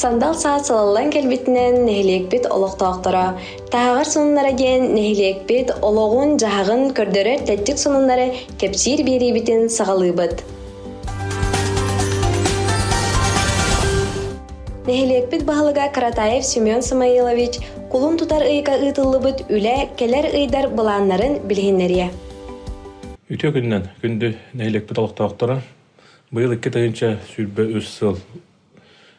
Сандал саас сылаллан кэлбитинэн нэһилиэкпит олохтоохторо таһаҕар сонуннара диэн нэһилиэкпит олоҕун-дьаһаҕын көрдөрөр тэттик сонуннары кэпсиир биэриибитин саҕалыыбыт. Нэһилиэкпит баһылыга Каратаев Семен Самоилович кулун тутар ыйга ыытыллыбыт үлэ кэлэр ыйдар былааннарын билиһиннэриэ. Үтүө күнүнэн күндү нэһилиэкпит олохтоохторо быйыл икки тыһыынча сүүрбэ үс сыл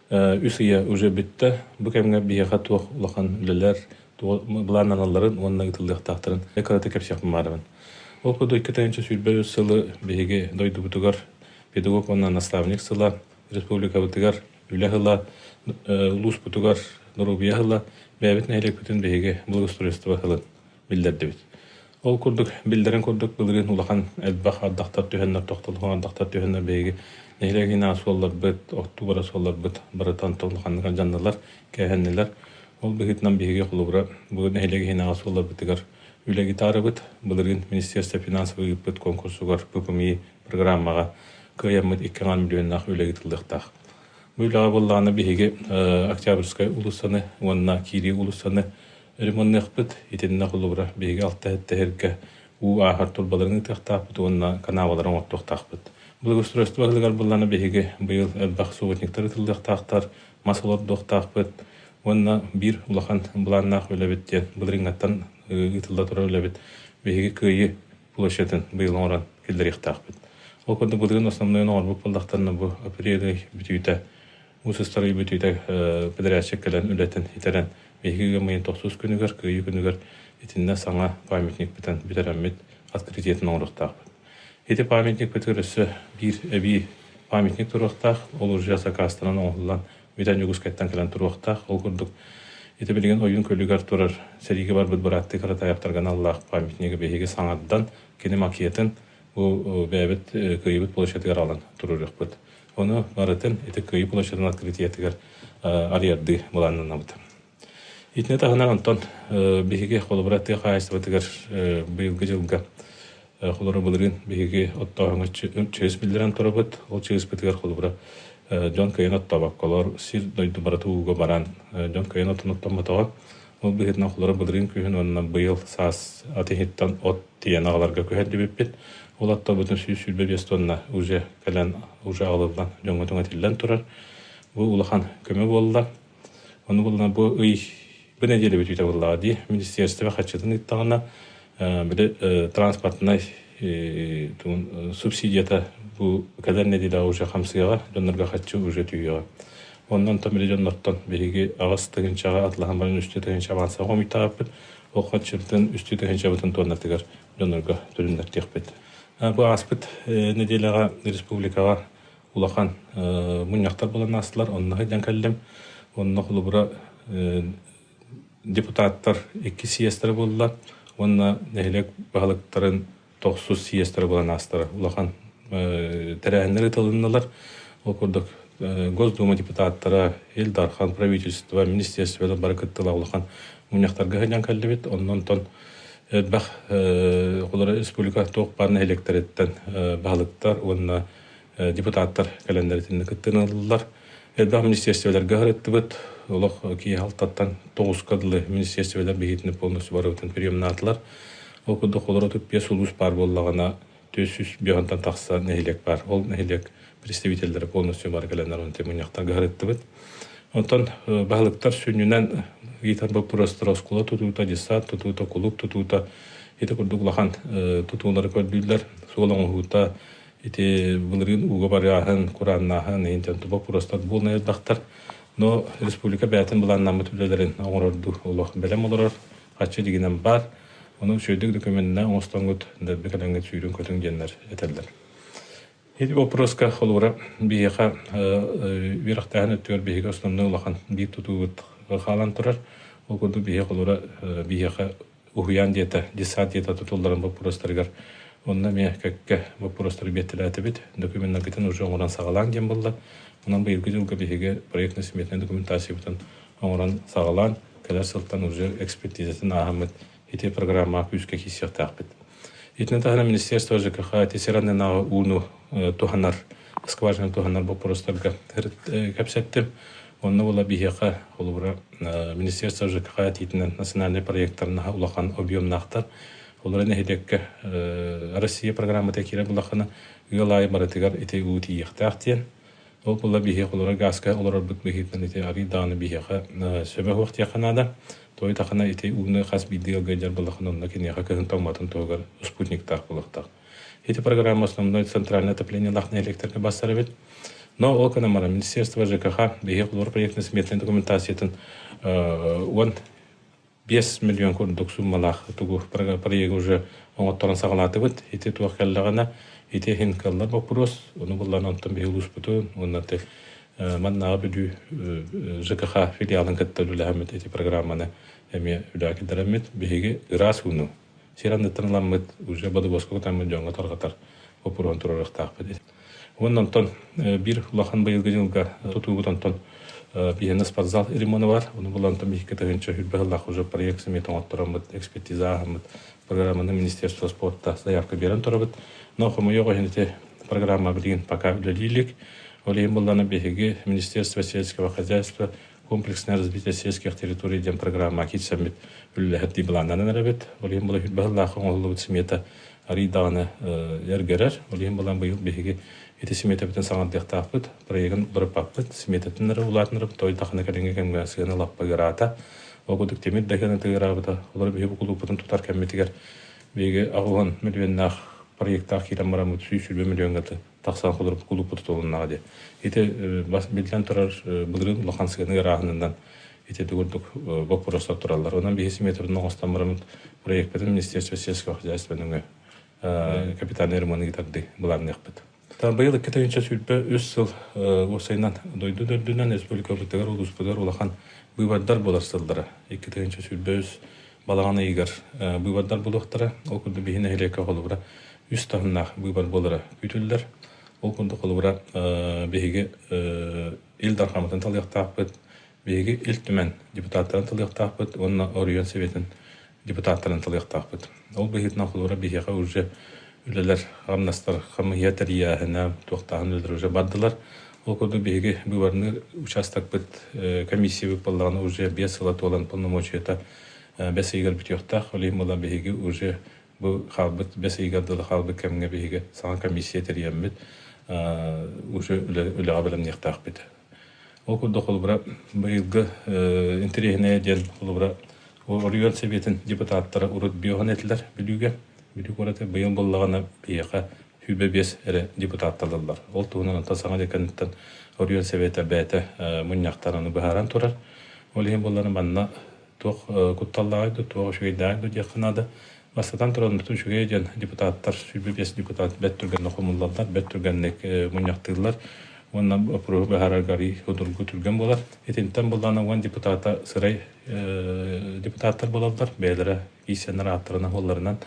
үс ыйа уже бүттэ. Бу кэмҥэ биһиэхэ туох улахан үлэлэр, туох былааннаналларын уонна ыытыллыахтаахтарын кырата кэпсиэхпин баҕарабын. Ол курдук икки тыһыынча сүүрбэ үс сылы биһиги дойдубутугар педагог уонна наставник сыла, республикабытыгар үлэ сыла, улууспутугар доруобуйа сыла, бэйэбит нэһилиэкпитин биһиги благоустройство сылын биллэрдибит. Ол курдук биллэрин курдук былырыын улахан элбэх ардахтар түһэннэр, тохтолоһун ардахтар түһэннэр биһиги нэһилиэгинэ суолларбыт, оттубара суолларбыт барытын толлуханнык дьанналар, кээһэннилэр. Ол быһыытынан биһиги холобура бу нэһилиэгинэҕэ суолларбытыгар үлэ гитарабыт былырыын министерство финансов ыыппыт конкурсугар ППМИ программаҕа кыайаммыт иккиаҥан миллионнаах үлэ ыытыллыахтаах. Бу үлэҕэ буоллаҕына биһиги Октябрьскай уулуссаны уонна Кирии уулуссаны Ремонныахпыт итиннэ холобура биһиги алта-эттэһэргэ уу ааһар турбаларын ыытыахтаахпыт уонна канаалалары оҥортуохтаахпыт. Благоустройство баһылыгар буоллаҕына биһиги быйыл элбэх субботниктар ыытыллыахтаахтар, мас олордуохтаахпыт уонна биир улахан былааннаах үлэбит диэн былырыыҥҥаттан ыытылла турар үлэбит биһиги Кыайыы площадын быйыл оҥорон киллэриэхтээхпит. Ол курдук былырыын основнойун оҥорбут буоллахтарына бу апрель ый бүтүүтэ Уус ыстарый бүтүүтэ подрядчик кэлэн үлэтин итэрэн биһиги ыамыйын тохсус күнүгэр, кыайыы күнүгэр итиннэ саҥа памятникпытын бүтэрэммит открытиятын оҥоруохтаахпыт. Ити памятникпытыгар өссө биир эбии памятник туруохтаах, ол уржа сакаастанан оҥоһуллан бүтэн Дьокуускайтан кэлэн туруохтаах. Ол курдук ити билигин ойуун көлүгэр турар сэриигэ барбыт бырааттыы Каратаевтарга аналлаах памятнигы биһиги саҥардан, кини макетын бу бэйэбит кыайбыт площадыгар аҕалан туруоруохпут. Ону барытын ити кыайыы площадын открытиятыгар арыйардыы былааннанабыт. Итини таһынан онтон биһиги холобура тыа хаһаайыстыбатыгар быйылгы дьылга холобура былырыын биһиги оттооһуҥҥа чыыс биллэрэн турабыт. Ол чыыспытыгар холобура дьон кыайан оттообокколор сир дойду барыта ууга баран дьон кыайан оттон оттоммотоҕо Ол быһыытынан олорор былырыын күһүн уонна быйыл саас ат иһиттэн от тиийэн аҕаларга күһэрдибиппит. Ол оттобутун сүүс сүүрбэ биэс туонна уже кэлэн уже аҕалыллан дьоҥҥо этиллэн турар. Бу улахан көмө буолла. Ону булла бу ый бу нэдиэлэ бүтүүтэ буллаҕа дии. Министерство хаччытын ыыттаҕына били транспортнай субсидията бу кэлэр нэдиэлэҕэ уже хамсыаҕа, дьоннорго хаччы уже түһүөҕэ. Онон там или дьоннортон биһиги аҕыс тыһыынчаҕа атлаһан баран үстүү тыһыынча маанса хомуйтаҕаппыт. Ол хаччымтан үстүү тыһыынчабытын туоннатыгар дьоннорго түрүннэрдиэхпит. Бу ааспыт нэдиэлэҕэ республикаҕа улахан мунньахтар булан аастылар. Онно дьон кэллим. Онно холобура депутаттар икки съезтэрэ буолла уонна нэһилиэк баһылыктарын тохсус съезд ырабыланаастара улахан тэрээһиннэр ытылыннылар. Ол курдук Госдума депутаттара, Ил Дархан, правительство, министерство бары кыттыла улахан муньахтарга хыдьан кэллибит. Оннон тон элбэх холоро республика тоқ бар нэһилектериттен баһылыктар уонна депутаттар кэлэннэр итинник кыттыны ыллылар. Элбэх министерстволарга ырыттыбыт. Олох киһи халтаттан тоҕуска дылы министерстволар бихитини полностью барыбытын приемнаатылар. Ол курдук олоро түппиэ сулус паар боллагана төсүс бьонтан тахса нэһилек бар. Ол нэһилек представителлері полностью бар кэлэннэр он темыньяктарга ырыттыбыт. Онтон баһылыктар сүннүнэн итан боппурастар оскула тутуута, десант тутуута, кулук тутуута, ити курдук лахан тутуулары көрдүүллэр, суол оҥоһуута, Ити былырыын ууга барыаһын, курааннааһын, иһинтэн боппуруостар буолан эрдахтар. Но республика бэйэтин былааннааммыт үлэлэрин оҥорордуу олох бэлэм олорор, хаччы дигинэн баар. Ону үчүгэйдик документна оҥостоҥут, дэрби кадаҥҥыт сүүрүн көтүҥ диэннэр этэллэр. Ити боппуруоска холура биһиэхэ үөрэхтээһин өттүгэр биһиги основной улахан биир тутуугут хаалан турар. Ол курдук биһиэхэ холура биһиэхэ уһуйаан диэта, десант диэта тутулларын боппуруостарыгар Онно эмиэ кэккэ боппуруостары биэртэлээтибит. Документнаргытын уже оҥорон саҕалааҥ диэн буолла. Онон быйылгы дьылга биһиги проектно-сметнай документациябытын оҥорон саҕалаан, кэлэр сылтан уже экспертизатын ааһаммыт, ити программаҕа күүскэ киириэхтээхпит. Итинэн таһынан министерство ЖКХ ити серанынааҕы ууну туһанар, скважинаны туһанар боппуруостарга кэпсэттим. Онно була биһиэхэ, холобура, Министерство ЖКХ этиитинэн национальнай проектарнаһа улахан объемнаахтар. Олору нэһилиэккэ Россия программата киирэ булахана ыал аайы барытыгар ити уу тиийиэхтээх диэн. Ол була биһиэхэ олору гааска олорорбут быһыытынан ити арый даҕаны биһиэхэ сөбө суох диэххэ наада. Той тахана ити ууну хас биирдии ыалга дьар булахан онно киниэхэ кыһын тоҥматын туһугар спутниктаах булахтах. Эти программа основной центральное отоплениелах электронный бастар эбит. Но ол кынамара Министерство ЖКХ биһи хлор проектной сметной документациятын уон бес миллион курдук суммалаах тугу проект уже оңотторон саҕалаатыбыт ити туох келлэҕина ити хин каллар вопрос ону буллан онтон биһи улууспутун уонна те маннааҕы бүдүү ЖКХ филиалын кытта үлэһэммит эти программаны эме үлэкидереммит биһиги ыраас уну сир анныттан ыламмыт, уже бодобуоска кутаммыт дьоҥҥо тарҕатар боппуруон туруоруохтаахпыт. Уонна онтон биир улахан быйылгы дьылга тутуубут онтон биһиэнэ спортзал ремона бар. Ону булан там икки тыһынча хүрбэ ыллаах уже проект сымет оҥоттороммут, экспертиза ааһаммыт, программаны Министерство спорта заявка берен турабыт. Но хомойо ити программа билигин пока үлэлиилик. Ол иһин булланы биһиги Министерство сельского хозяйства комплекснай развитие сельских территорий диэн программа киирсэммит үлэлэһэрдии былааннанан эрэбит. Ол иһин балай баһыллаах оҥоһуллубут смета арый даҕаны эргэрэр. Ол иһин балан быйыл биһиги ити сметабытын саҥардыахтаахпыт, проегын бырыппаппыт, сметатын эрэ улаатынырып той дахана кэлиҥҥи кэмҥэ сыана лаппыгыраата. Ол курдук темир дагана тыгыраабыта, олор биһи букулуппутун тутар кэммитигэр биһиги аҕуһан миллионнаах проектаах киирэн бараммыт сүүс сүрбэ миллионга тахса холоруп кулуппут тутулуннаҕа диэн. Ити бас биллэн турар былырыын улахан сыаны ырааһынынан ити дугурдук боппуруостар тураллар. Онон биһи симметрын оҥостон бараммыт проекпытын министерство сельского хозяйствотын өҥө капитальнай ремонту тарды былаанныахпыт. Быйыл икки тыһыынча сүүрбэ үс сыл уопсайынан дойду дөрдүнэн республикабытыгар улууспутугар улахан быыбардар болар сыллара. Икки тыһыынча сүүрбэ үс балаҕан ыйыгар быыбардар булуохтара. Ол курдук биһи нэһилиэккэ холобура үс таһымнаах быыбар буолара күүтүллэр. Ол курдук холобура биһиги Ил Дархаммытын талыахтаахпыт, биһиги Ил Түмэн депутаттарын талыахтаахпыт уонна оройуон Сэбиэтин депутаттарын талыахтаахпыт. Ол быһыытынан холобура биһиэхэ уже үлэлэр хамнастар хамыйа тэрийээһинэ туохтааһын үлэлэр уже бардылар. Ол курдук биһиги быыбарныы учаастакпыт комиссиябыт буоллаҕына уже биэс сыла туолан полномочията бэс ыйыгар бүтүөхтээх. Ол иһин була биһиги уже Бу хаалбыт бэс ыйыгар дылы хаалбыт кэмҥэ биһиги саҥа комиссия тэрийэммит уже үлэҕэ бэлэмниэхтээхпит. Ол курдук холобура быйылгы интэриэһинэйэ диэн холобура Орегон Сэбиэтин депутаттара урут биоһан этилэр Бүлүүгэ. Бүлүү куораты быйыл буллаҕына биһиэхэ сүүбэ биэс эрэ депутатталылар. Ол туһунан онтон саҥа деканыттан Орегон Сэбиэтэ бэйэтэ мунньахтан аны быһааран турар. Ол иһин буоллар манна туох кутталлааҕый да, туох үчүгэйдээҕий да диэххэ наада. Бастатан туран, бүтүн үчүгэй дьон депутаттар, сүүрбэ-биэс депутат бэрт түргэнник хомуллаллар, бэрт түргэнник мунньахтыыллар уонна боппуруоһу быһаарарга арыый судургу түргэн буолар. Итинтэн буллаҕына уон депутата сырай депутаттар буолаллар, бэйэлэрэ кииссэннэр ааттарынан буолларынан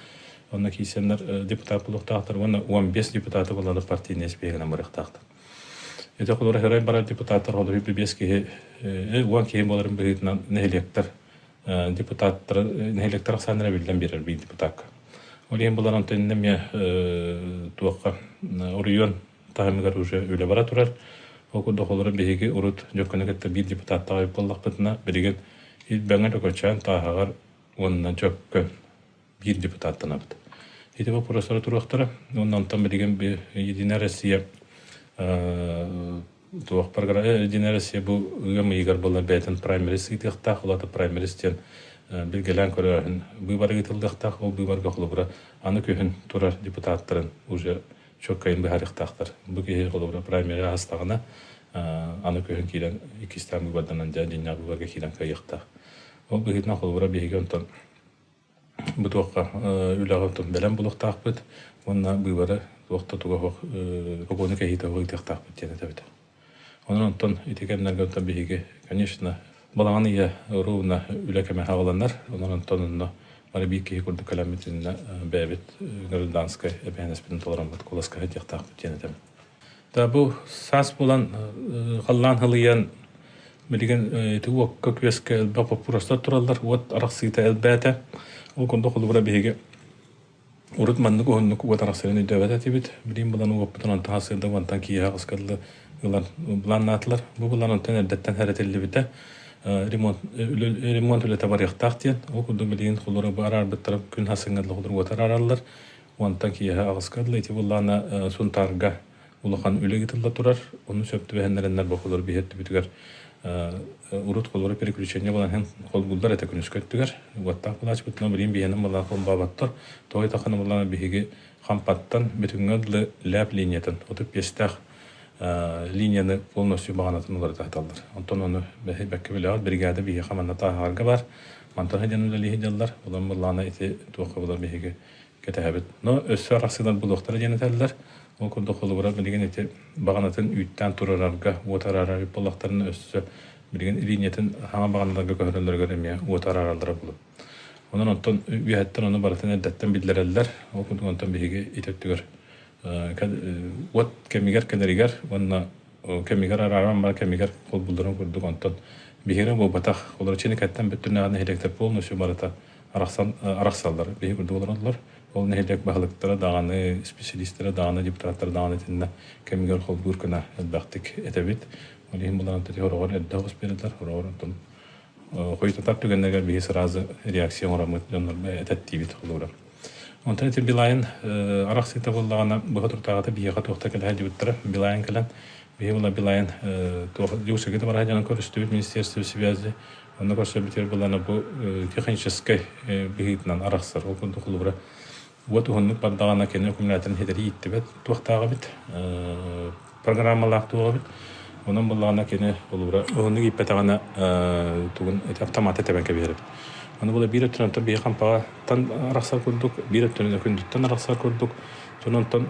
Онно кииссэннэр депутат буолуохтаахтар уонна он биэс депутаты булалар партийнай испиэһэгинэн барыахтаахтар. Ити холура херой баран депутаттар холуһу бибиэс киһи уон киһи буоларын быһыытынан нэһилиэктэр депутаттары нэһилиэктэр ахсааннара биллэн биэрэр биир депутакка. Ол иһин булан онтон эмиэ туохха оройуон таһымыгар уже үлэ бара турар. Ол курдук холура биһиги урут дьөккөнө кытта биир депутаттаҕа үп боллахпытына билигин ит бөҥө төкөчөөн тааһаҕар уонна дьөккөн биир депутаттанабыт. Ити вопростары туруохтара. Онон там билигин Единая Россия туох программа Единая Россия бу ыам ыйыгар булан бэйэтин праймерис ыытыахтаах, улата праймерис диэн билгелээн көрөһүн быыбар ыытыллыахтаах, ол быыбарга холобура аны күһүн турар депутаттарын уже чөккайын быһарыктаахтар. Бу киһи холобура праймери аһастаҕына аны күһүн киирэн иккистээн быыбарданан дьэ дьиннэ быыбарга киирэн кыйыктаах. Ол быһыытынан холобура биһиги онтон Бу туохха үлэҕитин бэлэм булуохтаахпыт уонна быыбары туох да туһах сокуону кэһиитэ ыытыахтаахпыт диэн этэбит. Онон онтон ити кэмнэргэ онтон биһиги, конечно, балаҕан ыйа ровно үлэ кэмэ хааланар. Онон онтон онно бары биир киһи курдук кэлэммит иннинэ бэйэбит гражданскай эбээһинэспитин толороммут куоласка иһитиэхтаахпыт диэн этэбин. Да бу саас булан халлаан хылыйан билигин ити уокка күөскэ элбэх боппуруостар тураллар уот арахсыыта элбээтэ ол курдук холобура биһиги урут маннык уһуннук уот арахсарын өйдөөбөт этибит билигин булан уоппутун онтон сырда уонтан киэһэ хаскылы ылан былааннаатылар бу былаан онтон эрдэттэн хэрэтиллибитэ ремонт ремонт үлэтэ барыахтаах диэн ол курдук билигин холобура бу араарбыттара күн хасыҥҥа холобура уот араараллар Уонтан киэһэ аҕыска дылы ити былаана Сунтаарга улахан үлэ ыытылла турар. Ону сөп түбэһиннэрэннэр бохолор биһэрдибитигэр урут холоро переключение булан иһэн холбууллар этэ күнүскэ өттүгэр уоттаах былаачпытынан билиин биһэнэн былаан холбооботтор тоой тахана былаана биһиги хампаттан бүтүҥҥэ дылы ляп линиятын отут пиэстээх линияны полностью баҕанатын уларыта саталлар онтон ону бэккэ билэҕит бригада биһиги хаманна тааһаарга бар мантан сыдьан үлэлиһи дьаллар улам былаана ити туохха булар биһиги кэтэһэбит. Но өссө арахсыылар булуохтара диэн этэллэр. Ол курдук холобура билигин ити баҕанатын үүттээн турарарга, уот араарар эбит буоллахтарына өссө билигин линиятын хаҥа баҕаналарга көһөрөллөрүгэр эмиэ уот араараллара булу. Онон онтон үөһэттэн ону барытын эрдэттэн биллэрэллэр. Ол курдук онтон биһиги ити өттүгэр уот кэмигэр кэлэригэр уонна кэмигэр арааран бар кэмигэр холбулларын курдук онтон биһиги буолбатах олорчини кэттэн бүттүнэҕэ нэһилиэктэр полностью барыта арахсан арахсаллар биһи курдук олороллор ол нэһилиэк баһылыктара даҕаны исписэлиистэрэ даҕаны депутаттар даҕаны итиннэ кэмигэр холбуур гына элбэхтик этэбит ол иһин булан тити хороҕор эрдэх усперетар хороҕор тун хойутатар түгэннэгэ биһи сразу реакция оҥороммут дьоннорго этет диибит холуура онта ити билайын арахсыыта буоллаҕына быһа туртаҕата биһиэхэ туохта кэлэһэ диэбиттэрэ билайын кэлэн биһи була билайын туох дьуусыгыта бараһа дьонын көрүстүбүт министерство связи Онно көрсө бүтэр былана бу техническэй быһыытынан арахсар. Ол курдук холобура уот уһуннук бардаҕына кини аккумуляторын хитэрии иттибэт туохтааҕа эбит, программалаах туоҕа эбит. Онон буллаҕына кини холобура уһуннук ииппэтэҕинэ тугун автоматы тэбэн кэбиһэр эбит. Аны була биир өттүнэн оттон биһи хампаҕаттан арахсар курдук, биир өттүнэн күндүттэн арахсар курдук. Сононтон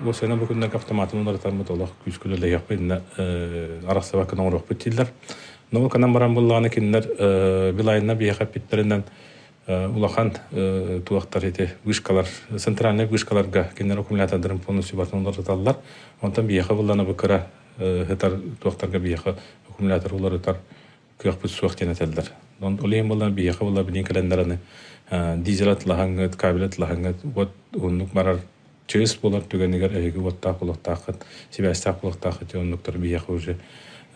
уосена бу күннэги автоматын уларытарбыт олох күүскүнү лэһиэхпит инна арахсыбаккын оҥоруохпут дииллэр. Науканан баран буллаҕына кинилэр Билайна биэхэ эппиттэринэн улахан туохтар ити вышкалар, центральный вышкаларга кинилэр аккумулятордарын полностью батынан уларыталлар. Онтон биэхэ буллана бу кыра хытар туохтарга биэхэ аккумулятор уларытар кыахпыт суох диэн этэллэр. Олейн булла биэхэ булла билин календараны дизель атлаһаҥҥыт, кабель атлаһаҥҥыт вот уһуннук барар чыыс буолар түгэнигэр эһиги уоттаах-кулуктааххыт, сибээстээх-кулуктааххыт дьон оннуктар биһиэхэ уже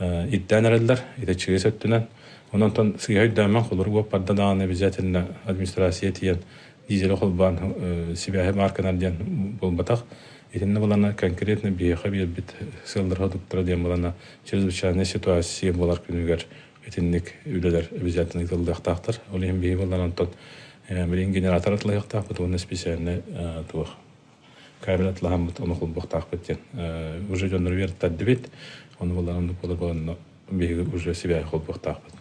ирдээн эрэллэр. Ити чыыс өттүнэн. Онон сыыһа өйдөөн холур уоппарда даҕаны обязательно администрация тиийэн дизель холбаан сибээһи маарканар диэн буолбатах. Итиннэ булана конкретно биһиэхэ биэрбит сыаллара-хотуктара диэн булана чрезвычайная ситуация болар күнүгэр Итинник үлэлэр обязательно ыытыллыахтаахтар. Ол иһин биһиги буллар онтон билин генератор атылыһыахтаахпыт уонна специальный туох кабель атлаһаммыт ону холбуохтаахпыт диэн уже дьоннору үөртэрдибит. Ону булларан булла биһиги уже сибэһи холбуохтаахпыт.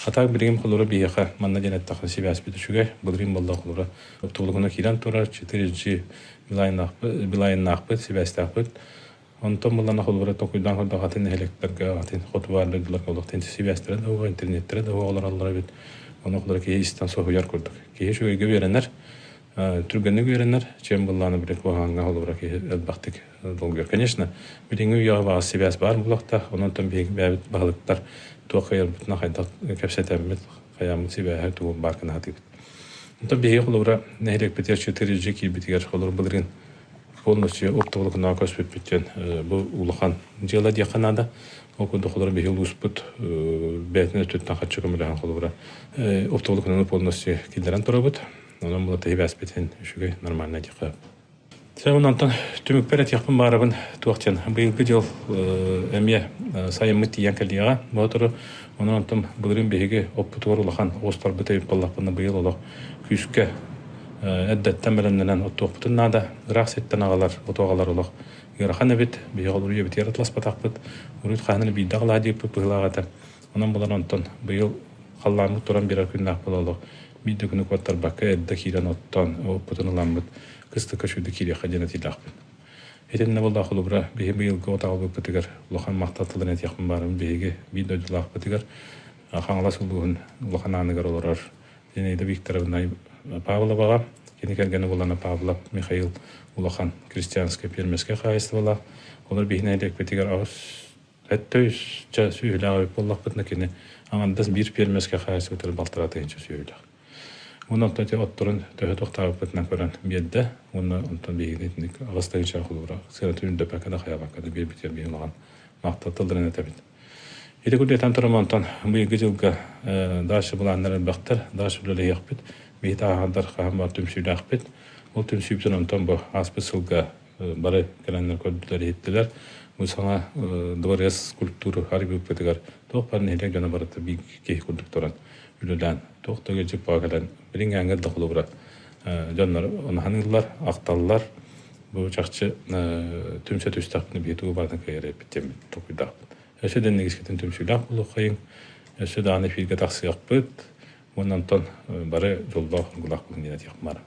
Атак билигим холура биһиэхэ манна диэн эттахха сибээспит үчүгэй былырын болла холура тулугуна киирэн турар 4G билайнаахпыт сибээстаахпыт Онтон булан ахыллара токуйдаан көрдөх атын нэһилиэктэргэ атын хотугаардаргылар олохтон сибээстэрэ да уоҕа, интернеттэрэ да уоҕа олороллор эбит. Ону холоро киһи истэн соһуйар курдук. Киһи үчүгэйгэ үөрэнэр, түргэнник үөрэнэр, чем быллаана билик куһаҕаҥҥа холобура киһи элбэхтик долгуйар. Конечно, билиҥҥи үйэҕэ баҕас сибээс баар буолуохта, онон биһиги бэйэбит баһылыктар туох кыйарбытына хайдах кэпсэтэммит, хайааммыт сибээһэ тугу баар гына сатыыбыт. Онтон биһиги холобура нэһилиэкпитигэр 4 дьиэ киирбитигэр холобур былыргын Ол өссө оптоволокунаҕа көспүппүт диэн бу улахан дьыала диэххэ наада. Ол курдук холобура биһи улууспут бэйэтин өттүттэн хачча көмөлөһөн холобура оптоволокунаны полностью киллэрэн турабыт. Онон була тиһибээспитин үчүгэй нормально диэххэ. Сэ онантан түмүкпэр этиэхпин баарабын туох диэн быйылгы дьыл эмиэ сайыммыт тиийэн кэлиэҕэ. Ботору Онон онтум былырыын биһиги оппутугар улахан уостарбыт эбит буоллахпына быйыл олох күүскэ эрдэттэн бэлэмнэнэн оттуохпутун наада. Ыраах ситтэн аҕалар, оту аҕалар олох ыарахан эбит. Биһиги олуруйа битиэр атласпатахпыт. Уруйт хаһыны биирдэ аҕалаа диэппит быһыылаах этэ. Онон булан онтон быйыл халлааҥҥыт туран биэрэр күннээх буола олох биирдэ күнү куоттарбакка эрдэ киирэн оттоон оппутун ыламмыт кыстыкка сүрдэ киириэххэ диэн этиилэхпит Итиннэбыллаах холобура биһи быйылгы отаалбыппытыгар улахан махтал тылын этиэхпин баарым биһиги биир дойдулаахпытыгар Хаҥалас улууһун улахан ааныгар олорор Зинаида Викторовна Павловаҕа, кини кэргэнэ Булана Павлов Михаил улахан крестьянскай пиэрмэскэй хаһаайыстыбалаах. Олор биһи нэһилиэкпитигэр аҕыс Этэ үс ча сүөһүлээх эбит буоллахпытына кини аҥардас биир пиэрмэскэ хаайсыбытыгар балтаратын иһин сүөһүлээх. Уонна оттон ити отторун төһө тохтообуппутунан көрөн биэрдэ уонна онтон биһигини итинник аҕыс да кычаах холуура сыанатын үрдэппэккэ да хайаабакка да биэрбитигэр биһи улахан махтал тылларын этэбит. Ити курдук этэн туран онтон быйылгы дьылга э, дальше былааннар элбэхтэр дальше үлэлэһиэхпит биһи тааһардар хаһан бар түмсүүлээхпит ол түмсүүбүтүн онтон бу ааспыт сылга бары кэлэннэр көрдүлэр-иһиттилэр. Бу саҥа дворец скульптуры аргыыппытыгар туох бар нэһилиэк гына барыта биир киһи курдук туран үлүлээн туох да ыалдьыппаҕа кэлэн билиҥ ааҥҥар да холобура дьоннор унаһаныыллар, ахталлар. Бу чахчы түмсэ түстэхпин биһи туу баатын кэйэрэппитим токуйдахпыт. Өссө дэннигискитин түмсүүлээх булуоххайын. Өссө дааны эфиргэ тахсыахпыт. Уонна онтон бары дьоллоох дургулаах күһүҥҥүн этиэхмар.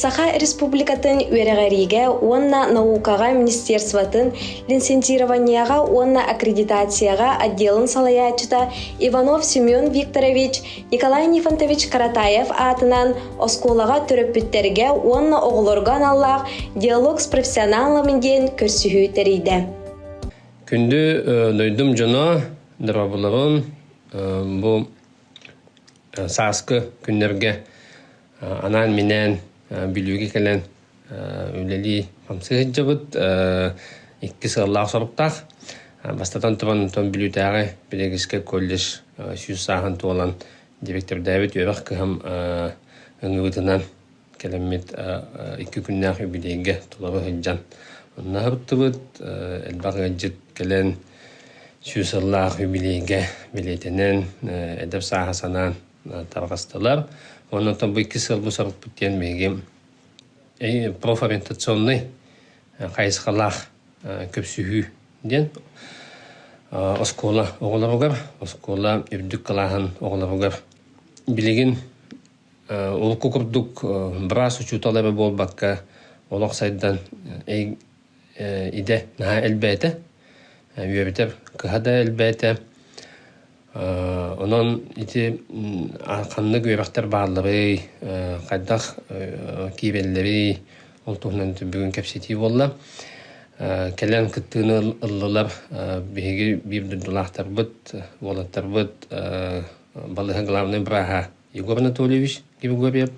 Саха Республикатын үөрэҕэриигэ уонна наукаҕа министерствотын лицензированиеҕа уонна аккредитацияҕа отделын салайааччыта Иванов Семен Викторович Николай Нифонтович Каратаев аатынан оскуолаҕа төрөппүттэргэ уонна оҕолорго аналлаах диалог с профессионалами диэн көрсүһүү тэрийдэ. Күндү дойдум дьоно, доробулабын бу сааскы күннэргэ анаан-минээн Бүлүүгэ кэлэн үлэлии хамсыы сылдьабыт. Икки сыаллаах-соруктаах. Бастатан туран, оттон Бүлүүтээҕи педагогическай колледж сүүс сааһын туолан директордээбит үөрэх кыһам ыҥыыбытынан Кэлэммит икки күннээх юбилейга тула сылдьан ыннаһыбыттыбыт, элбэх ыалдьыт кэлэн сүүс сыллаах юбилейгэ билиэтэнэн эдэр сааһы санаан тарҕастылар. Уонна оттон бу икки сыл бу сорукпут диэн биһиги профориентационнай хайысхалаах көпсүһүү диэн оскуола оҕолоругар, оскуола үрдүк кылааһын оҕолоругар билигин Урукку курдук быраас учуутал эмэ буолбакка, олох сайдан идэ наһаа элбээтэ. Үөбүтэ кыһа да элбээтэ. Онон ити ханнык үөрэхтэр баалларый, хайдах киирэллэрий, ол туһунан бүгүн кэпсэтии буолла. Кэлэн кыттыыны ыллылар биһиги биир дойдулаахтарбыт, уолаттарбыт балыһа главнай бырааһа Егор Анатольевич Григорьев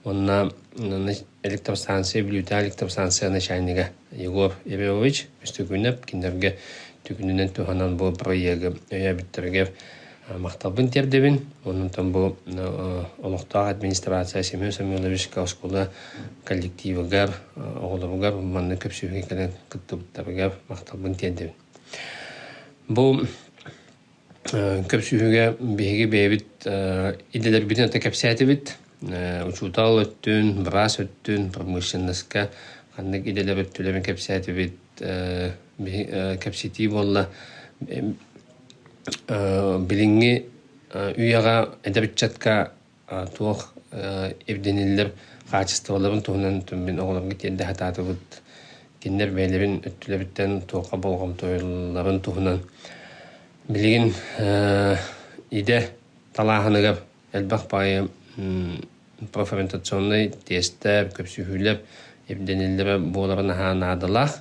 уонна электромстанция Бүлүүтэ электромстанция начальнига Егор Иванович Үстүкүнэп кинилэргэ түгүнүнэн туһанан бу проегы өйөөбүттэргэ махталбын тиэрдэбин онтон бу олохтоох администрация Семен Самойлович оскуола коллективыгар оҕолоругар манна көпсүһүүгэ кэлэн кыттыбыттарыгар махталбын тиэрдэбин бу Көпсүүһүгэ биһиги бэйэбит идэлэрбитин ата кэпсээтибит. учуутал өттүн, быраас өттүн, промышленноска ханнык идэлэр өттүлэрин кэпсээтибит. кэпсэтии буолла билиҥҥи үйэҕэ эдэр ыччатка туох ирдэниллэр хаачыстыбаларын туһунан мин оҕолорго тиэрдэ сатаатыбыт. Кинилэр бэйэлэрин өттүлэриттэн туохха болҕомтоларын туһунан билигин идэ талааһыныгар элбэх баҕайы профориентационнай тестэр, көпсүһүүлэр ирдэниллэрэ буоларын аһаа наадалаах.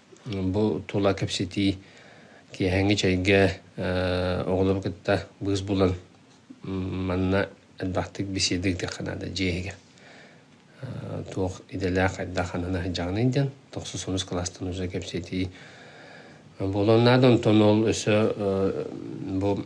Бу тула кэпсэтии киэһэҥҥи чэйгэ оҕолору кытта быыс булан манна элбэхтик беседа диэххэ наада дьиэһигэр туох идэлээх хайдах анана сылдьаҕыный диэн тахса сонус кылаастан ууса кэпсэтии буолуон наада онтон ол өссө бу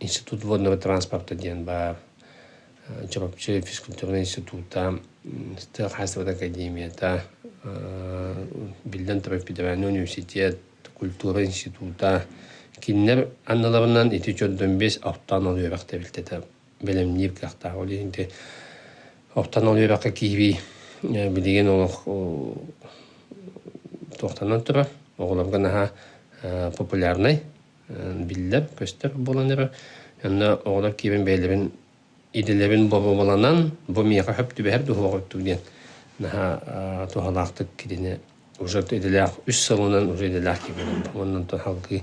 Институт водного транспорта диэн баар Чурапчы физкультурнай института, Тыа хаһаайыстыбатын академията, биллэн турар, федеральный университет, культура института кинилэр анныларынан ити 415 ахтаан алыабахта бэлэмниир кыахтаах. Ол иһин оттон ол үөрэххэ киирии билигин олох туохтанан турар оҕолорго наһаа популярнай биллэр көстөр буолан эрэр онно оҕолор киирэн бэйэлэрин идэлэрин бобуланан бу миэхэ хөп түбэһэр дуһуоҕуттук диэн наһаа туһалаахтык кинини уже идэлээх үс сылынан уже идэлээх киирэн оннуттан салгыы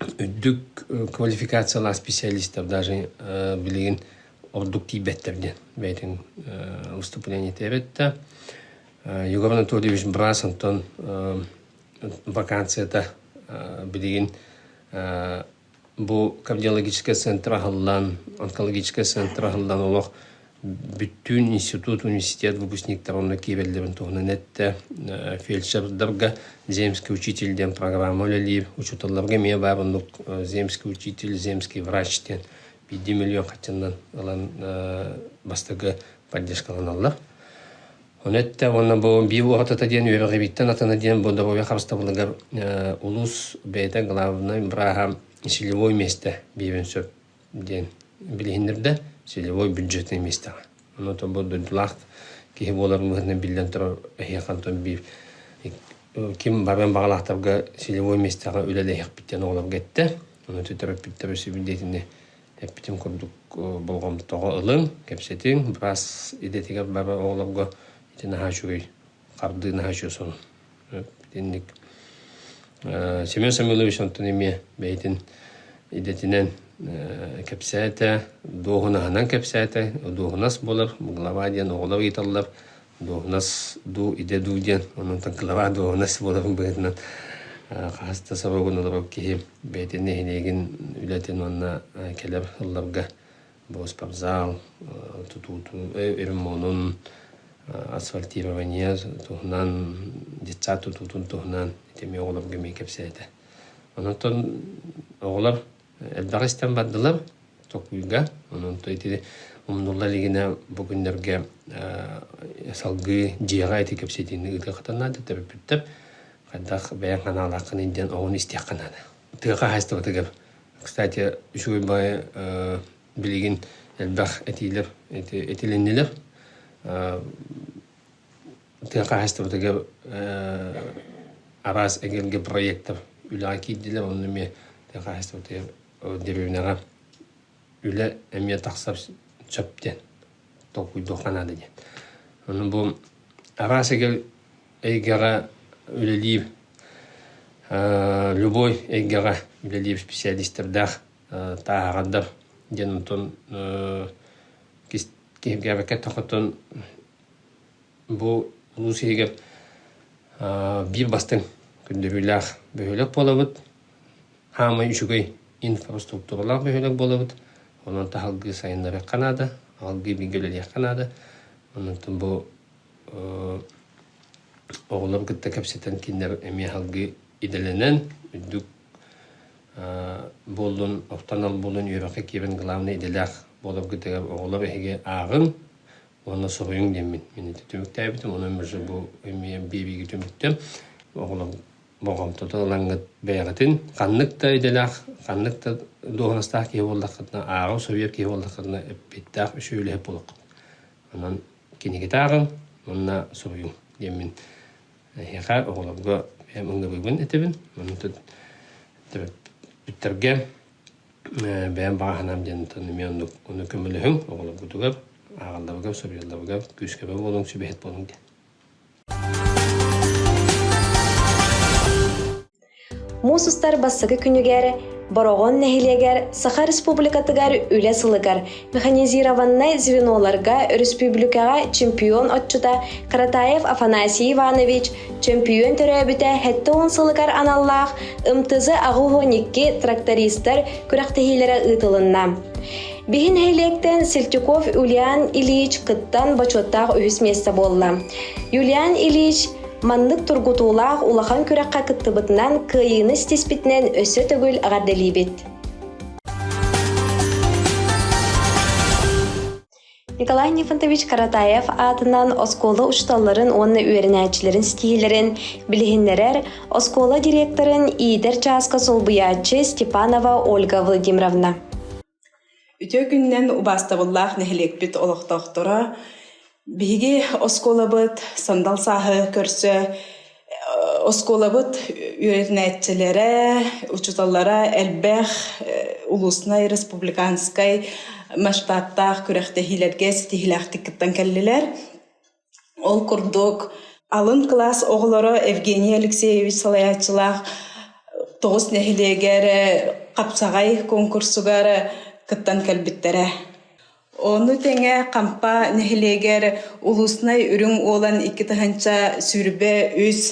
үрдүк квалификациялаах специалистар даже билигин ордук тиийбэттэр диэн бэйэтин выступление этээбэт да Егор Анатольевич Брас онтон вакансията билигин бу кардиологическай центр аһыллан онкологическай центр аһыллан олох бүттүүн институт университет выпускниктара уонна киэбэллэрин туһунан эттэ. Фельдшердарга земский учитель диэн программа үлэлиир. Учууталларга эмиэ баар оннук земский учитель, земский врач диэн биирдии миллион хаччыннан ылан бастакы поддержкаланаллар. Оны этте уонна бу биир уоһатата диэн үөрэҕибиттэн атана диэн бу добовой харыстабылыгар улуус бэйэтэ главнай браха силевой месте биэбин сөп диэн билиһиннэрдэ. Силевой бюджетнай миэстэҕэ. Онон бу дойдулаах киһи буолар быһыытынан биллэн турар эһиэхэ онтон биир ким баран баҕалаахтарга силевой миэстэҕэ үлэлэһиэхпит диэн оҕолорго эттэ. Ону терапевтэр өсөбүндиэтинэ эппитин курдук болҕомтоҕо ылыҥ, кэпсэтиҥ, быраас идэтигэр барар оҕолорго ити наһаа үчүгэй хардыынаһа чусон итинник Семен Самойлович онтон эмиэ бэйэтин идэтинэн кэпсээтэ, дуоһунаһынан кэпсээтэ, дуоһунас буолар, глава диэн оҕолор ыйыталлар, дуоһунас дуу, идэ дуу диэн, онон глава дуоһунас буолар быһыытынан хаһыс да сорогун олорор киһи бэйэтин нэһилиэгин үлэтин уонна кэлэр ылларга Боспортзал тутуутун, ремонун, асфальтирование туһунан, детсад тутуутун туһунан эмиэ оҕолорго эмиэ кэпсээтэ. Онон оҕолор элбэх истэн бардылар токуйга. Онон ити умнулла илигинэ бу күннэргэ салгыы дьиэҕэ ити кэпсэтиини ыытыахтан наада төрөппүттэр хайдах бэйэҥ ханаалааххын диэн оҕону истиэххэ наада. Тыаха хаһаайыстыбатыгар Кстати, үчүгэй баайы билигин элбэх этиилэр этилиннилэр. Тыа хаһаайыстыбатыгар араас эгэлгэ проектар үлэҕэ киирдилэр. Онно эмиэ тыа хаһаайыстыбатыгар дэриэбинэҕэ үлэ эмиэ тахсар сөп диэн толкуйдуохха наада диэн. Ону бу араас эгэл эйгэҕэ үлэлиир любой эйгэҕэ үлэлиир специалистардаах тааһаҕардар диэн онтон киһиргээбэккэ тохотон бу улуус иһигэр биир бастыҥ көрдөрүүлээх бөһүөлэк буолабыт хаамай үчүгэй инфраструктуралаах бөһүөлэк буолабыт онон таһалгыы сайыннарыахха наада аһылгыы бииргэ үлэлиэххэ наада онтон бу Оҕолору кытта кэпсэтэн кинилэр эмиэ аһылгы идэлэнэн үрдүк буоллун, офтанал буолун, үөрэххэ киирэн главнай идэлээх буоларгыт эгээр оҕолор эһиги ааҕыҥ уонна суруйуҥ диэммин мин ити түмүктээбитим онон миша бу эмиэ биэбиигэ түмүктүм оҕолор болҕомтото ылаҥҥыт бэйэҕитин ханнык да идэлээх ханнык да дуоһунастаах киһи буоллаххытына ааҕа суруйар киһи буоллаххытына эппиэттээх үсүөлэһэ буолуоххут онон кинигитааҕыл уонна суруйум диэммин эһиэхэ оҕолорго бэйэм ылынабыгын этэбин бүтэргэ бэйэм баҕаһынаам диэн эмиэ ону көмөлөһүҥ оҕолоргутугар ааҕалларыгар суруйалларыгар күүскэбэ буолуҥ сүбэһит буолуҥ диэн Муус устар бастакы күнүгэр Бороҕон нэһилиэгэр Саха Республикатыгар Үлэ сылыгар механизированнай звеноларга өрөспүүбүлүкэҕэ чемпион отчута Каратаев Афанасий Иванович, чемпион төрөөбүтэ 70 сылыгар аналлаах МТЗ аҕы уон икки трактористар күрэхтэһиилэрэ ыытылынна. Биһи нэһилиэктэн Сельтюков Юлиан Ильич кыттан бочуоттаах үһүс миэстэ буолла. Юлиан Ильич маннык тургутуулаах улахан күрэххэ кыттыбытынан кыайыыны ситиспитинэн өссө төгүл эҕэрдэлиибит. Николай Нефантович Каратаев аатынан оскуола учууталларын уонна үөрэнээччилэрин ситиһиилэрин билиһиннэрэр оскуола директорын иитэр чааска солбуйааччы Степанова Ольга Владимировна. Үтүө күнүнэн убаастабыллаах нэһилиэкпит олохтоохторо! Биһиги оскуолабыт сандал сааһы көрсө оскуолабыт үөрэнээччилэрэ, учууталлара элбэх улуустунай, республиканскай масштабтаах күрэхтэһиилэргэ ситиһиилээхтик кыттан кэллилэр. Ол курдук, алын кылаас оҕолоро Евгений Алексеевич салайааччылаах тоҕус нэһилиэгэ эрэ хапсаҕай куонкурсуга эрэ кыттан кэлбиттэрэ. Ону тэҥэ Хампа нэһилиэгэр улуустунай үрүҥ уолан икки тыһыынча сүүрбэ үс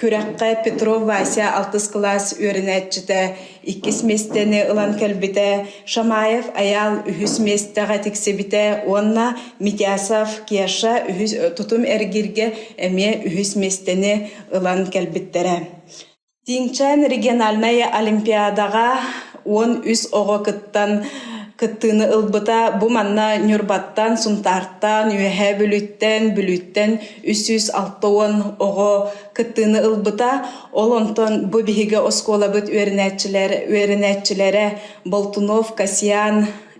күрэххэ Петров Вася алтыс кылаас үөрэнээччитэ иккис миэстэни ылан кэлбитэ, Шамаев Аял үһүс миэстэҕэ тиксибитэ уонна Митясов Кеша үһүс, тутум эргиргэ эмиэ үһүс миэстэни ылан кэлбиттэрэ. Тииҥчээн региональнай олимпиадаҕа уон үс оҕо кыттан кыттыыны ылбыта. Бу манна Ньурбаттан, Сунтаартан, Үөһээ Бүлүттэн, Бүлүүттэн үс сүүс алта уон оҕо кыттыыны ылбыта. Ол онтон бу биһиги оскуолабыт үөрэнээччилэр үөрэнээччилэрэ Болтунов, Касьян,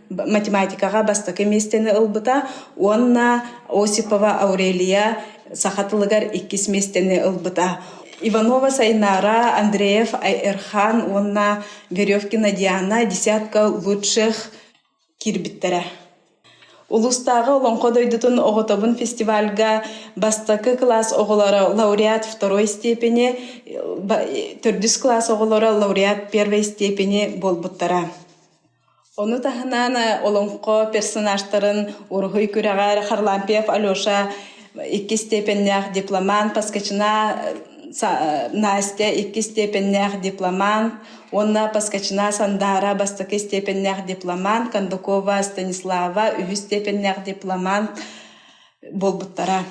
математикаҕа бастакы миэстэни ылбыта уонна Осипова Аурелия саха тылыгар иккис миэстэни ылбыта. Иванова Сайнаара, Андреев Айэрхан уонна Веревкина Диана десятка лучших киирбиттэрэ. Улуустааҕы Олоҥхо дойдутун оҕотобун фестивальга бастакы кылаас оҕолоро лауреат второй степени, төрдүс кылаас оҕолоро лауреат первой степени буолбуттара. Ону таһынан олоҥхо персонажтарын Уруһуй күрэҕэр Харлампьев Алеша иккис степеннээх дипломант, Поскачина Настя иккис степеннээх дипломант уонна Поскачина Сандара бастакы степеннээх дипломант, Кондакова Станислава үһүс степеннээх дипломант, буолбуттара.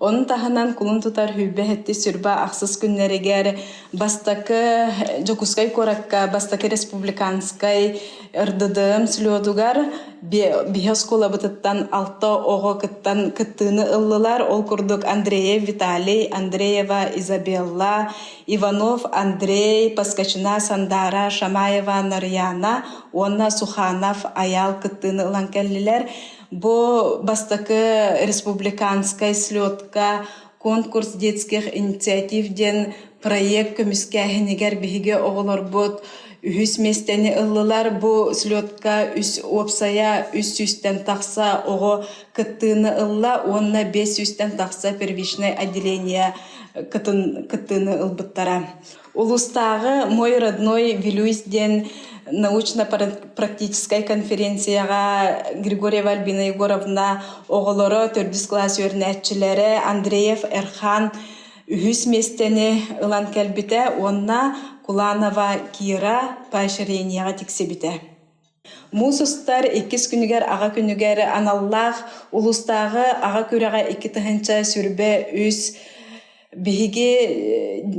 Onun таһынан кулун тутар hüvbe hetti sürba ахсыс күннэригэр бастакы Дьокуускай куоракка бастакы республиканскай РДДМ слетугар биһи оскуолабытыттан алта оҕо кыттан кыттыыны ыллылар. Ол курдук Андреев Виталий, Андреева Изабелла, Иванов Андрей, Паскачина Сандара, Шамаева Нарьяна уонна Суханов Аял кыттыыны ылан кэллилэр. Бу бастакы республиканскай слетка «Конкурс детских инициатив» диэн проект көмүскээһинигэр биһиги оҕолорбут үһүс миэстэни ыллылар. Бу слетка үс уопсайа үс сүүстэн тахса оҕо кыттыыны ылла уонна бес сүүстэн тахса первичнай отделение кытын кыттыыны ылбыттара. Улуустааҕы «Мой родной Вилюйс» диэн научно-практическай конференцияҕа Григорьева Альбина Егоровна оҕолоро, төрдүс класс үөрэнээччилэрэ Андреев Эрхан үһүс миэстэни ылан кэлбитэ уонна Куланова Кира поощрениеҕа тиксибитэ. Муус устар иккис күнүгэр аҕа күнүгэр аналлаах улуустааҕы аҕа күрэҕэ икки тыһыынча сүүрбэ үс биһиги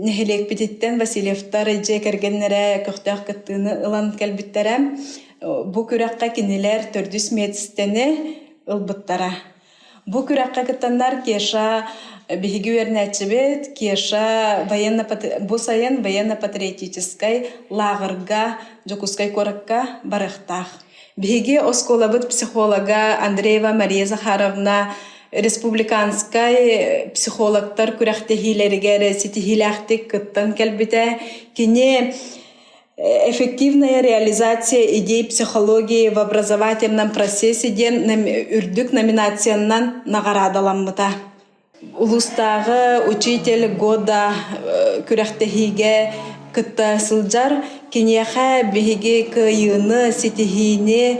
нэһилиэкпититтэн Васильевтар дьиэ кэргэннэрэ көхтөөх кыттыыны ылан кэлбиттэрэ. Бу күрэххэ кинилэр төрдүс миэстэни ылбыттара. Бу күрэххэ кыттаннар Кеша биһиги үөрэнээччибит Кеша военно бу сайын военно-патриотическай лааҕырга Дьокуускай куоракка барыахтаах. Биһиги оскуолабыт психолога Андреева Мария Захаровна республиканскай психологтар күрэхтэһиилэригэр ситиһиилээхтик кыттан кэлбитэ. Кини эффективная реализация идей психологии в образовательном процессе диэн үрдүк номинациянан наҕараадаламмыта. Улуустааҕы учитель года күрэхтэһиигэ кытта сылдьар киниэхэ биһиги кыайыыны, ситиһиини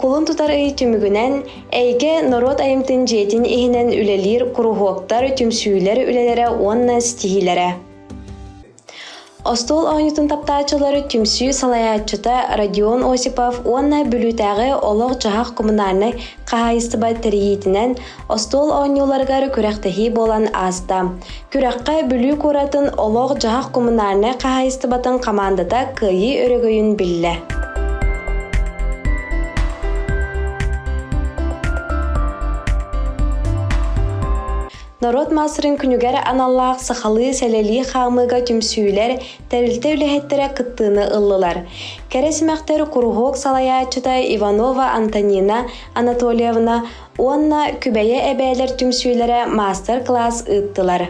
Кулун тутар ый түмүгүнэн эйгэ норуот айымтын дьиэтин иһинэн үлэлиир куруһуоктар, түмсүүлэр үлэлэрэ уонна ситиһиилэрэ. Остуол оонньутун таптааччылары түмсүү салайааччыта Родион Осипов уонна Бүлүүтээҕи олох-дьаһах коммунальнай Хаһаайыстыба тэрийиитинэн остуол оонньууларыгар күрэхтэһии буолан ааста. Күрэххэ Бүлүү куоратын олох-дьаһах коммунальнай хаһаайыстыбатын хамаандата Кыайыы өрөгөйүн биллэ. Норуот маастарын күнүгэр аналлаах сахалыы сэлэлии хаамыыга түмсүүлэр Тэрилтэ үлэһиттэрэ кыттыыны ыллылар. Кэрэ симэхтэр куруһуок салайааччыта Иванова Антонина Анатольевна уонна Күбэйэ эбээлэр түмсүүлэрэ маастар-класс ыыттылар.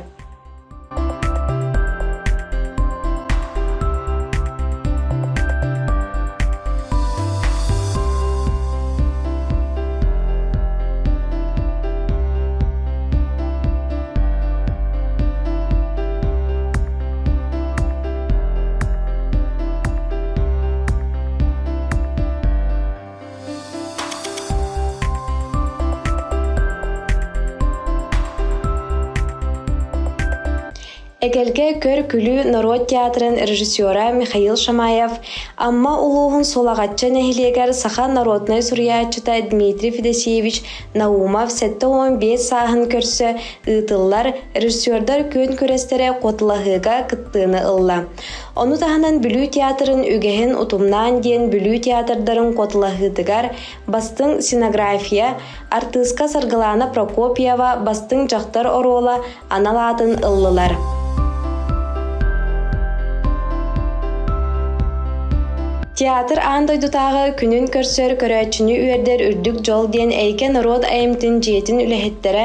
Эгэлгэ көр-күлүү норуот театрын режиссера Михаил Шамаев, Амма улууһун Сулаҕачча нэһилиэгэр саха народнай суруйааччыта Дмитрий Федосеевич Наумов сэттэ уон биэс сааһын көрсө ыытыллар режиссердар күөн күрэстэрэ куотулаһыыга кыттыыны ылла. Ону таһынан Бүлүү театрын үгэһин утумнаан диэн Бүлүү театрдарын куотулаһыытыгар бастыҥ сценография, артыыска Саргылана Прокопьева бастыҥ дьахтар оруола анал аатын ыллылар. Театр аан дойдутааҕы күнүн көрсөр көрөөччүнү үөрдэр үрдүк дьол диэн Эйгэ норуот айымтын дьиэтин үлэһиттэрэ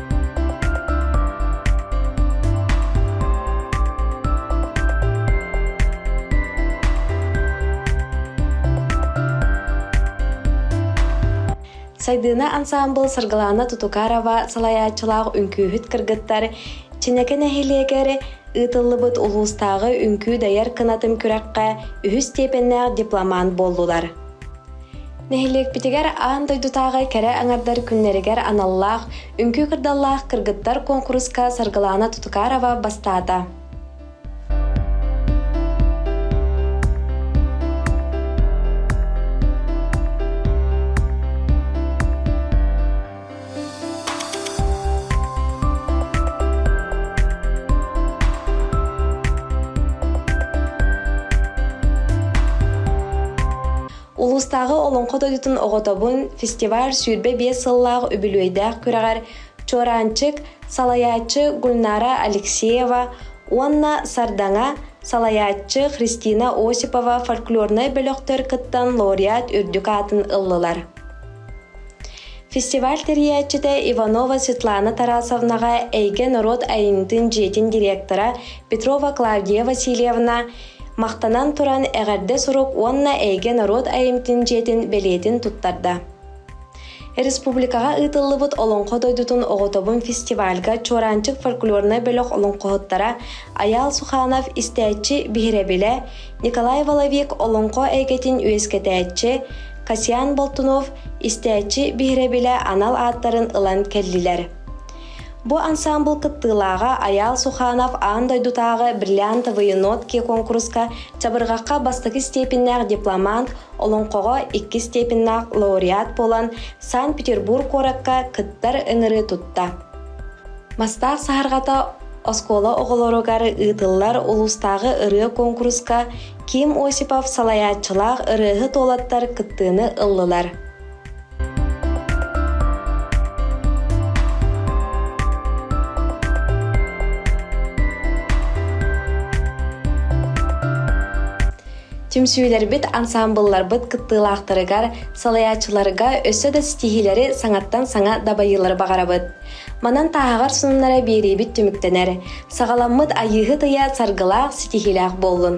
Сайдыына ансаамбыл Сыргылаана Тутукарова салайааччылаах үҥкүүһүт кыргыттар Чинэкэ нэһилиэгэр ыытыллыбыт улуустааҕы үҥкүү дайар кынатын күрэххэ үһүс степеннээх дипломант буоллулар. Нэһилиэкпитигэр аан дойдутааҕы кэрэ аҥардар күннэригэр аналлаах Үҥкүү кырдаллаах кыргыттар куонкуруска Саргылаана Тутукарова бастаата. Улуустааҕы Олоҥхо дойдутун оҕотобун фестиваль сүүрбэ биэс сыллаах үбүлүөйдээх күрэҕэр Чораанчык, салайааччы Гульнара Алексеева уонна Сардаҥа, салайааччы Христина Осипова фольклорнай бөлөхтөр кыттан лауреат үрдүк аатын ыллылар. Фестиваль тэрийээччитэ Иванова Светлана Тарасовнаҕа эйгэ норуот айымньытын дьиэтин директора Петрова Клавдия Васильевна махтанан туран эҕэрдэ сурук уонна эйгэ норуот айымньытын дьиэтин бэлиэтин туттарда. Республикаҕа ыытыллыбыт Олоҥхо дойдутун оҕотобун фестивальга Чуораанчык фольклорнай бөлөх олоҥхоһуттара Айаал Суханов истээччи биһирэбилэ, Николай Воловик олоҥхо эйгэтин үөскэтээччи, Хасиан Болтунов истээччи биһирэбилэ анал ааттарын ылан кэллилэр. Бу ансаамбыл кыттыылааҕа Айаал Суханов аан дойдутааҕы «Бриллиантовые нотки» куонкуруска чабырҕахха бастакы степеннээх дипломант, олоҥхоҕо икки степеннаах лауреат буолан Санкт-Петербург куоракка кыттар ыҥырыы тутта. Мастаах саһарҕата оскуола оҕолоругар ыытыллар улуустааҕы ырыа куонкуруска Ким Осипов салайааччылаах ырыаһыт уолаттар кыттыыны ыллылар. Түмсүүлэрбит ансаамбылларбыт кыттыылаахтарыгар, салайааччыларга өссө да ситиһиилэри саҥаттан саҥа дабайыылары баҕарабыт. Манан тааһаҕар сонуннара биэриибит түмүктэнэр. Саҕаламмыт Айыыһыт ыйа саргылаах ситиһиилээх буоллун!